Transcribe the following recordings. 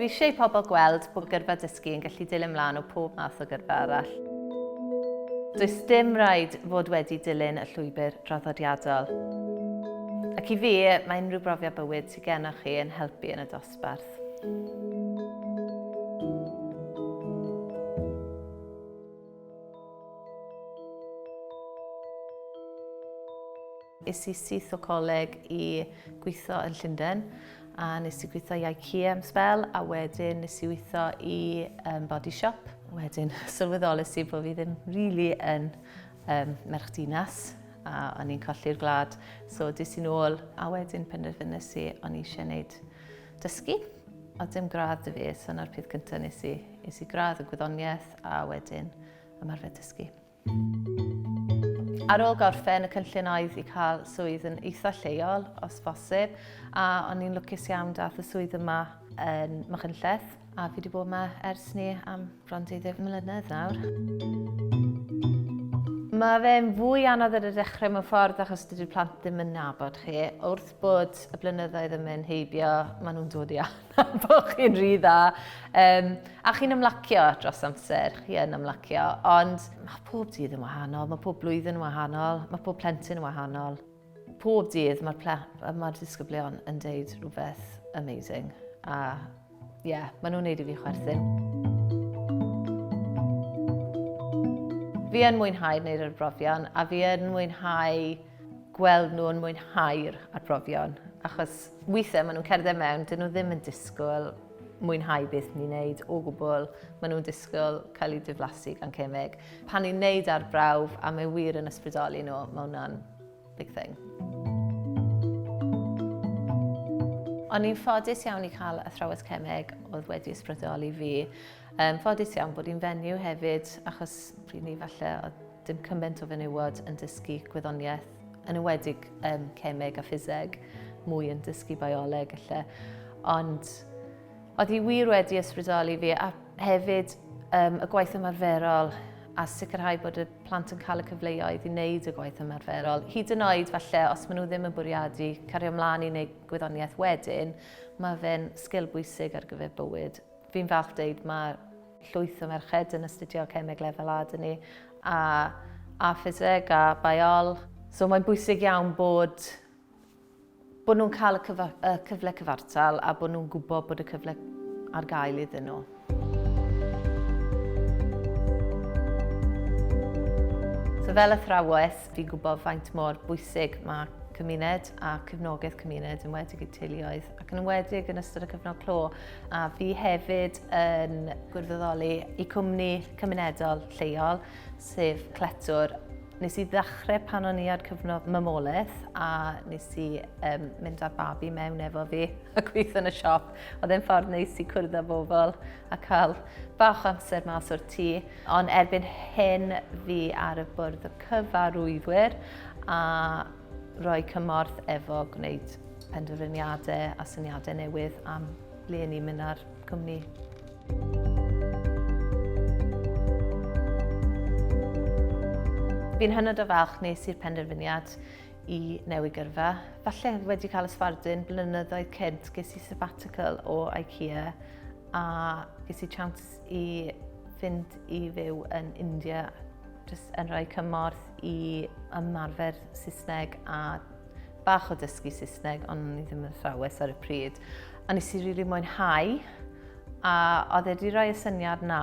Dwi eisiau i pobl gweld bod gyrfa dysgu yn gallu dilyn mlaen o pob math o gyrfa arall. Does dim rhaid fod wedi dilyn y llwybr draddodiadol. Ac i fi, mae unrhyw brofiad bywyd sydd gennych chi yn helpu yn y dosbarth. Es i syth o coleg i gweithio yn Llundain a nes i gweithio i IKEA am sbel a wedyn nes i weithio i um, body shop. Wedyn sylweddolus i bod fi ddim really yn um, merch dinas a o'n i'n colli'r gwlad. So dis i'n ôl a wedyn penderfynus i o'n i eisiau gwneud dysgu. O dim gradd dy fi, so na'r peth cyntaf nes i, nes i gradd y gwyddoniaeth a wedyn ymarfer dysgu. Ar ôl gorffen, y cynllun oedd i cael swydd yn eitha lleol, os bosib, a o'n i'n lwcus iawn dath y swydd yma yn Machynlleth, a fi wedi bod yma ers ni am bron 20 mlynedd nawr. Mae fe'n fwy anodd ar y dechrau mewn ffordd achos dydy'r plant ddim yn nabod chi. Wrth bod y blynyddoedd yn mynd heibio, maen nhw'n dod i Bo chi'n rhy dda. Um, a chi'n ymlacio dros amser, chi yn ymlacio, ond mae pob dydd yn wahanol, mae pob blwyddyn yn wahanol, mae pob plentyn yn wahanol. Pob dydd mae'r mae disgyblion yn deud rhywbeth amazing. A ie, yeah, maen nhw'n neud i fi chwerthin. Fi yn mwynhau wneud yr brofion a fi yn mwynhau gweld nhw yn mwynhau'r arbrofion, achos weithiau maen nhw'n cerdded mewn, dyn nhw ddim yn disgwyl mwynhau beth ni'n neud o gwbl, maen nhw'n disgwyl cael eu diflasu gan cemeg. Pan ni'n neud arbrawf a mae wir yn ysbrydoli nhw, mae hwnna'n big thing. O'n i'n ffodus iawn i cael athrawes cemeg oedd wedi ysbrydoli fi. Um, ffodus iawn bod i'n fenyw hefyd, achos pryd ni falle oedd Dim cymaint o fenywod yn dysgu gwyddoniaeth, yn ywedig um, cemeg a ffiseg, mwy yn dysgu bioleg lle. Ond oedd hi wir wedi ysbrydoli fi a hefyd um, y gwaith ymarferol a sicrhau bod y plant yn cael y cyfleoedd i wneud y gwaith ymarferol. Hyd yn oed falle, os maen nhw ddim yn bwriadu cario ymlaen i wneud gwyddoniaeth wedyn, mae fe'n sgil bwysig ar gyfer bywyd. Fi'n falch deud mae llwyth o merched yn astudio cemeg lefel A dyn ni, a, a ffiseg, a baiol. So mae'n bwysig iawn bod, bod nhw'n cael y, cyfa, y cyfle cyfartal a bod nhw'n gwybod bod y cyfle ar gael iddyn nhw. So fel athrawes, fi'n gwybod faint mor bwysig mae cymuned a cyfnogaeth cymuned yn wedig i teuluoedd ac yn enwedig yn ystod y cyfnod clo, a fi hefyd yn gwirfoddoli i cwmni cymunedol lleol, sef Cletwr. Nes i ddechrau pan o'n i ar cyfnod mamolaeth a nes i um, mynd â'r babi mewn efo fi a gweithio yn y siop. Oedd e'n ffordd neis i cwrdd â bobl a cael bach amser mas o'r tŷ. Ond erbyn hyn fi ar y bwrdd y cyfarwyddwyr a Rhoi cymorth efo gwneud penderfyniadau a syniadau newydd am le ni'n mynd â'r cwmni. Fi'n hynod o falch nes i'r penderfyniad i newid gyrfa. Falle wedi cael ysfardun blynyddoedd cynt ges i sabbatical o IKEA a ges i chance i fynd i fyw yn India jyst yn rhoi cymorth i ymarfer Saesneg a bach o dysgu Saesneg, ond ni ddim yn thrawes ar y pryd. A nes i rili mwynhau, a oedd e wedi rhoi y syniad na.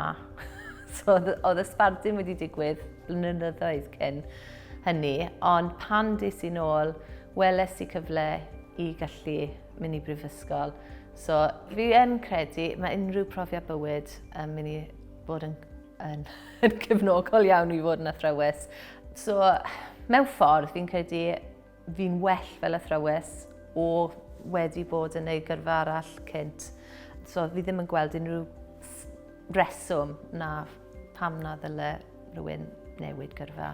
so oedd y sbardun wedi digwydd blynyddoedd cyn hynny, ond pan dis i'n ôl, weles i cyfle i gallu mynd i brifysgol. So fi yn credu, mae unrhyw profiad bywyd yn mynd i bod yn yn, yn cefnogol iawn i fod yn athrawes. So, mewn ffordd, fi'n credu fi'n well fel athrawes o wedi bod yn ei gyrfa arall cynt. So, fi ddim yn gweld unrhyw reswm na pam na ddyle rhywun newid gyrfa.